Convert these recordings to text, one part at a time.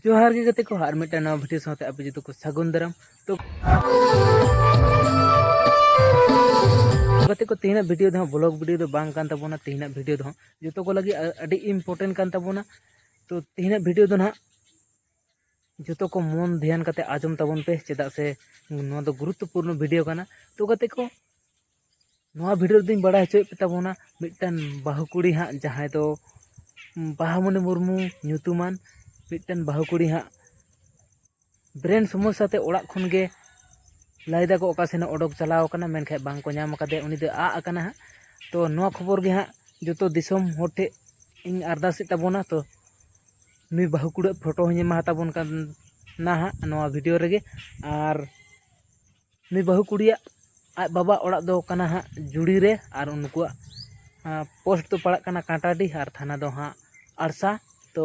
ᱡᱚᱦᱟᱨ ᱜᱮ ᱜᱟᱛᱮ ᱠᱚ ᱟᱨ ᱢᱤᱫᱴᱟᱝ ᱱᱟᱣᱟ ᱵᱷᱤᱰᱤᱭᱳ ᱥᱟᱶᱛᱮ ᱟᱯᱮ ᱡᱚᱛᱚ ᱠᱚ ᱥᱟᱹᱜᱩᱱ ᱫᱟᱨᱟᱢ ᱛᱚ ᱜᱟᱛᱮ ᱠᱚ ᱛᱮᱦᱮᱧᱟᱜ ᱵᱷᱤᱰᱤᱭᱳ ᱫᱚ ᱵᱞᱚᱜ ᱵᱷᱤᱰᱤᱭᱳ ᱫᱚ ᱵᱟᱝ ᱠᱟᱱ ᱛᱟᱵᱚᱱᱟ ᱛᱮᱦᱮᱧᱟᱜ ᱵᱷᱤᱰᱤᱭᱳ ᱫᱚ ᱡᱚᱛᱚ ᱠᱚ ᱞᱟᱹᱜᱤᱫ ᱟᱹᱰᱤ ᱤᱢᱯᱚᱨᱴᱮᱱᱴ ᱠᱟᱱ ᱛᱟᱵᱚᱱᱟ ᱛᱚ ᱛᱮᱦᱮᱧᱟᱜ ᱵᱷᱤᱰᱤᱭᱳ ᱫᱚ ᱱᱟᱦᱟᱜ ᱡᱚᱛᱚ ᱠᱚ ᱢᱚᱱ ᱫᱷᱮᱭᱟᱱ ᱠᱟᱛᱮ ᱟᱸᱡᱚᱢ ᱛᱟᱵᱚᱱ ᱯᱮ ᱪᱮᱫᱟᱜ ᱥᱮ ᱱᱚᱣᱟ ᱫᱚ ᱜᱩᱨᱩᱛᱛᱚᱯᱩᱨᱱᱚ ᱵᱷᱤᱰᱤᱭᱳ ᱠᱟᱱᱟ ᱛᱚ ᱜᱟᱛᱮ ᱠᱚ ᱱᱚᱣᱟ ᱵᱷᱤᱰᱤᱭᱳ ᱨᱮᱫᱚᱧ ᱵᱟᱲᱟᱭ ᱦᱚᱪᱚᱭᱮᱫ ᱯᱮ ᱛᱟᱵᱚᱱᱟ ᱢᱤᱫᱴᱟᱝ ᱵᱟᱹᱦᱩ ᱠᱩᱲᱤ ᱦᱟᱸᱜ ᱡᱟᱦᱟᱸᱭ ᱫᱚ ᱵᱟᱦᱟᱢᱚᱱᱤ ᱢᱩᱨᱢᱩ ᱧᱩᱛᱩᱢᱟᱱ ᱢᱤᱫᱴᱟᱝ ᱵᱟᱹᱦᱩ ᱠᱩᱲᱤ ᱦᱟᱸᱜ ᱵᱨᱮᱱ ᱥᱚᱢᱚᱥᱥᱟ ᱛᱮ ᱚᱲᱟᱜ ᱠᱷᱚᱱ ᱜᱮ ᱞᱟᱹᱭ ᱫᱟᱠᱚ ᱚᱠᱟ ᱥᱮᱱᱮ ᱚᱰᱚᱠ ᱪᱟᱞᱟᱣ ᱠᱟᱱᱟ ᱢᱮᱱᱠᱷᱟᱱ ᱵᱟᱝ ᱠᱚ ᱧᱟᱢ ᱠᱟᱫᱮᱭᱟ ᱩᱱᱤ ᱫᱚ ᱟᱜ ᱟᱠᱟᱱᱟ ᱦᱟᱸᱜ ᱛᱚ ᱱᱚᱣᱟ ᱠᱷᱚᱵᱚᱨ ᱜᱮ ᱦᱟᱸᱜ ᱡᱚᱛᱚ ᱫᱤᱥᱚᱢ ᱦᱚᱲ ᱴᱷᱮᱱ ᱤᱧ ᱟᱨᱫᱟᱥᱮᱫ ᱛᱟᱵᱚᱱᱟ ᱛᱚ ᱱᱩᱭ ᱵᱟᱹᱦᱩ ᱠᱩᱲᱟᱹᱜ ᱯᱷᱳᱴᱳ ᱦᱚᱸᱧ ᱮᱢᱟ ᱦᱟᱛᱟᱵᱚᱱ ᱠᱟᱱ ᱱᱟᱦᱟᱜ ᱱᱚᱣᱟ ᱵᱷᱤᱰᱤᱭᱳ ᱨᱮᱜᱮ ᱟᱨ ᱱᱩᱭ ᱵᱟᱹᱦᱩ ᱠᱩᱲᱤᱭᱟᱜ ᱟᱡ ᱵᱟᱵᱟ ᱚᱲᱟᱜ ᱫᱚ ᱠᱟᱱᱟ ᱦᱟᱸᱜ ᱡᱩᱲᱤ ᱨᱮ ᱟᱨ ᱩᱱᱠᱩᱣᱟᱜ ᱯᱳᱥᱴ ᱫᱚ ᱯᱟᱲᱟᱜ ᱠᱟᱱᱟ ᱠᱟᱸᱴᱟᱰᱤ ᱟᱨ ᱛᱷᱟᱱᱟ ᱫᱚ ᱦᱟᱸᱜ ᱟᱲᱥᱟ ᱛᱚ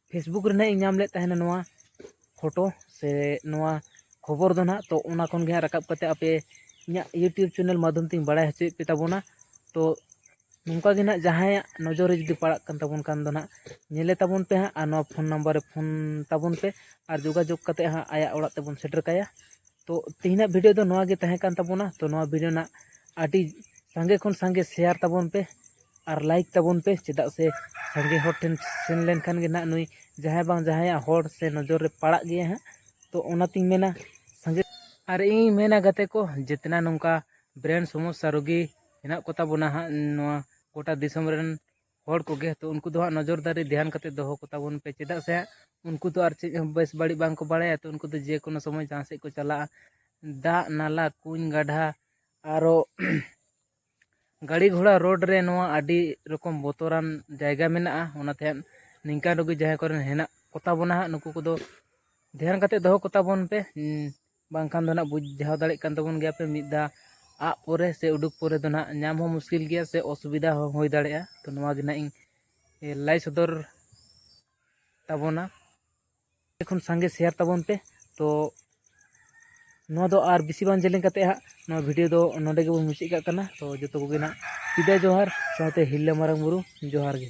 ᱯᱷᱮᱥᱵᱩᱠ ᱨᱮ ᱱᱟᱜ ᱤᱧ ᱧᱟᱢ ᱞᱮᱫ ᱛᱟᱦᱮᱱᱟ ᱱᱚᱣᱟ ᱯᱷᱳᱴᱳ ᱥᱮ ᱱᱚᱣᱟ ᱠᱷᱚᱵᱚᱨ ᱫᱚ ᱱᱟᱜ ᱛᱚ ᱚᱱᱟ ᱠᱷᱚᱱ ᱜᱮ ᱦᱟᱸᱜ ᱨᱟᱠᱟᱵ ᱠᱟᱛᱮ ᱟᱯᱮ ᱤᱧᱟᱹᱜ ᱤᱭᱩᱴᱩᱵᱽ ᱪᱮᱱᱮᱞ ᱢᱟᱫᱽᱫᱷᱚᱢ ᱛᱮᱧ ᱵᱟᱲᱟᱭ ᱦᱚᱪᱚᱭᱮᱫ ᱯᱮ ᱛᱟᱵᱚᱱᱟ ᱛᱚ ᱱᱚᱝᱠᱟ ᱜᱮ ᱱᱟᱜ ᱡᱟᱦᱟᱸᱭᱟᱜ ᱱᱚᱡᱚᱨ ᱨᱮ ᱡᱩᱫᱤ ᱯᱟᱲᱟᱜ ᱠᱟᱱ ᱛᱟᱵᱚᱱ ᱠᱷᱟᱱ ᱫᱚ ᱱᱟᱜ ᱧᱮᱞᱮ ᱛᱟᱵᱚᱱ ᱯᱮ ᱦᱟᱸᱜ ᱟᱨ ᱱᱚᱣᱟ ᱯᱷᱳᱱ ᱱᱟᱢᱵᱟᱨ ᱨᱮ ᱯᱷᱳᱱ ᱛᱟᱵᱚᱱ ᱯᱮ ᱟᱨ ᱡᱳᱜᱟᱡᱳᱜᱽ ᱠᱟᱛᱮ ᱦᱟᱸᱜ ᱟᱭᱟᱜ ᱚᱲᱟᱜ ᱛᱮᱵᱚᱱ ᱥᱮᱴᱮᱨ ᱠᱟᱭᱟ ᱛᱚ ᱛᱮᱦᱮᱧᱟᱜ ᱵᱷᱤᱰᱤᱭᱳ ᱫᱚ ᱱᱚᱣᱟ ᱜᱮ ᱛᱟᱦᱮᱸ ᱠᱟᱱ ᱛᱟᱵᱚᱱᱟ ᱛᱚ ᱱᱚᱣᱟ ᱵᱷᱤᱰᱤᱭᱳ ᱨᱮᱱᱟᱜ ᱟᱹᱰᱤ ᱥᱟᱸᱜᱮ ᱠᱷᱚᱱ ᱥᱟᱸᱜᱮ ᱥᱮᱭᱟᱨ ᱛᱟᱵᱚᱱ ᱯᱮ ᱟᱨ ᱞᱟᱭᱤᱠ ᱛᱟᱵᱚᱱ ᱯᱮ ᱪᱮᱫᱟᱜ ᱥᱮ ᱥᱟᱸᱜᱮ ᱦᱚᱲ ᱴᱷᱮᱱ ᱥᱮᱱ ᱞᱮᱱᱠᱷᱟᱱ ᱜᱮ ᱱᱟᱦᱟᱜ ᱱᱩᱭ ᱡᱟᱦᱟᱸᱭ ᱵᱟᱝ ᱡᱟᱦᱟᱸᱭᱟᱜ ᱦᱚᱲ ᱥᱮ ᱱᱚᱡᱚᱨ ᱨᱮ ᱯᱟᱲᱟᱜ ᱜᱮᱭᱟᱭ ᱦᱟᱸᱜ ᱛᱚ ᱚᱱᱟᱛᱤᱧ ᱢᱮᱱᱟ ᱥᱟᱸᱜᱮ ᱟᱨ ᱤᱧᱤᱧ ᱢᱮᱱᱟ ᱜᱟᱛᱮ ᱠᱚ ᱡᱮᱛᱱᱟ ᱱᱚᱝᱠᱟ ᱵᱨᱮᱱ ᱥᱚᱢᱚᱥᱥᱟ ᱨᱩᱜᱤ ᱦᱮᱱᱟᱜ ᱠᱚᱛᱟ ᱵᱚᱱᱟ ᱦᱟᱸᱜ ᱱᱚᱣᱟ ᱜᱚᱴᱟ ᱫᱤᱥᱚᱢ ᱨᱮᱱ ᱦᱚᱲ ᱠᱚᱜᱮ ᱛᱚ ᱩᱱᱠᱩ ᱫᱚ ᱦᱟᱸᱜ ᱱᱚᱡᱚᱨ ᱫᱟᱨᱮ ᱫᱷᱮᱭᱟᱱ ᱠᱟᱛᱮᱫ ᱫᱚᱦᱚ ᱠᱚᱛᱟ ᱵᱚᱱ ᱯᱮ ᱪᱮᱫᱟᱜ ᱥᱮ ᱦᱟᱸᱜ ᱩᱱᱠᱩ ᱫᱚ ᱟᱨ ᱪᱮᱫ ᱦᱚᱸ ᱵᱮᱥ ᱵᱟᱹᱲᱤᱡ ᱵᱟᱝ ᱠᱚ ᱵᱟᱲᱟᱭᱟ ᱛᱚ ᱩᱱᱠᱩ ᱫᱚ ᱡᱮᱠᱳᱱᱳ ᱥᱚᱢᱚᱭ ᱡᱟᱦᱟᱸ ᱥᱮᱫ ᱠᱚ ᱪᱟᱞᱟᱜᱼᱟ ᱫᱟᱜ ᱱᱟᱞᱟ ᱠᱩᱧ ᱜᱟᱰᱷᱟ ᱟᱨᱚ ᱜᱟᱹᱰᱤ ᱜᱷᱚᱲᱟ ᱨᱳᱰ ᱨᱮ ᱱᱚᱣᱟ ᱟᱹᱰᱤ ᱨᱚᱠᱚᱢ ᱵᱚᱛᱚᱨᱟᱱ ᱡᱟᱭᱜᱟ ᱢᱮᱱᱟᱜᱼᱟ ᱚᱱᱟᱛᱮ ᱱᱤᱝᱠᱟᱱ ᱨᱩᱜᱤ ᱡᱟᱦᱟᱸᱭ ᱠᱚᱨᱮᱱ ᱦᱮᱱᱟᱜ ᱠᱚᱛᱟ ᱵᱚᱱᱟ ᱦᱟᱸᱜ ᱱᱩᱠᱩ ᱠᱚᱫᱚ ᱫᱷᱮᱭᱟᱱ ᱠᱟᱛᱮ ᱫᱚᱦᱚ ᱠᱚᱛᱟ ᱵᱚᱱ ᱯᱮ ᱵᱟᱝᱠᱷᱟᱱ ᱫᱚ ᱱᱟᱜ ᱵᱩᱡᱷᱟᱹᱣ ᱫᱟᱲᱮᱜ ᱠᱟᱱ ᱛᱟᱵᱚᱱ ᱜᱮᱭᱟ ᱯᱮ ᱢᱤᱫ ᱫᱷᱟᱣ ᱟᱜ ᱯᱚᱨᱮ ᱥᱮ ᱩᱰᱩᱠ ᱯᱚᱨᱮ ᱫᱚ ᱱᱟᱜ ᱧᱟᱢ ᱦᱚᱸ ᱢᱩᱥᱠᱤᱞ ᱜᱮᱭᱟ ᱥᱮ ᱚᱥᱩᱵᱤᱫᱟ ᱦᱚᱸ ᱦᱩᱭ ᱫᱟᱲᱮᱭᱟᱜᱼᱟ ᱛᱚ ᱱᱚᱣᱟ ᱜᱮ ᱱᱟᱜ ᱤᱧ ᱞᱟᱹᱭ ᱥᱚᱫᱚᱨ ᱛᱟᱵᱚᱱᱟ ᱠᱷᱚᱱ ᱥᱟᱸᱜᱮ ᱥᱮᱭᱟᱨ ᱛᱟᱵᱚᱱ ᱯᱮ ᱛᱚ ᱱᱚᱣᱟ ᱫᱚ ᱟᱨ ᱵᱮᱥᱤ ᱵᱟᱝ ᱡᱮᱞᱮᱧ ᱠᱟᱛᱮ ᱦᱟᱸᱜ ᱱᱚᱣᱟ ᱵᱷᱤᱰᱤᱭᱳ ᱫᱚ ᱱᱚᱰᱮ ᱜᱮᱵᱚᱱ ᱢᱩᱪᱟᱹᱫ ᱠᱟᱜ ᱠᱟᱱᱟ ᱛᱚ ᱡᱚᱛᱚ ᱠᱚᱜᱮ ᱱᱟᱜ ᱥᱤᱫᱟ ᱡᱚᱦᱟᱨ ᱥᱟᱶᱛᱮ ᱦᱤᱨᱞᱟᱹ ᱢᱟᱨᱟᱝ ᱵᱩᱨᱩ ᱡᱚᱦᱟᱨ ᱜᱮ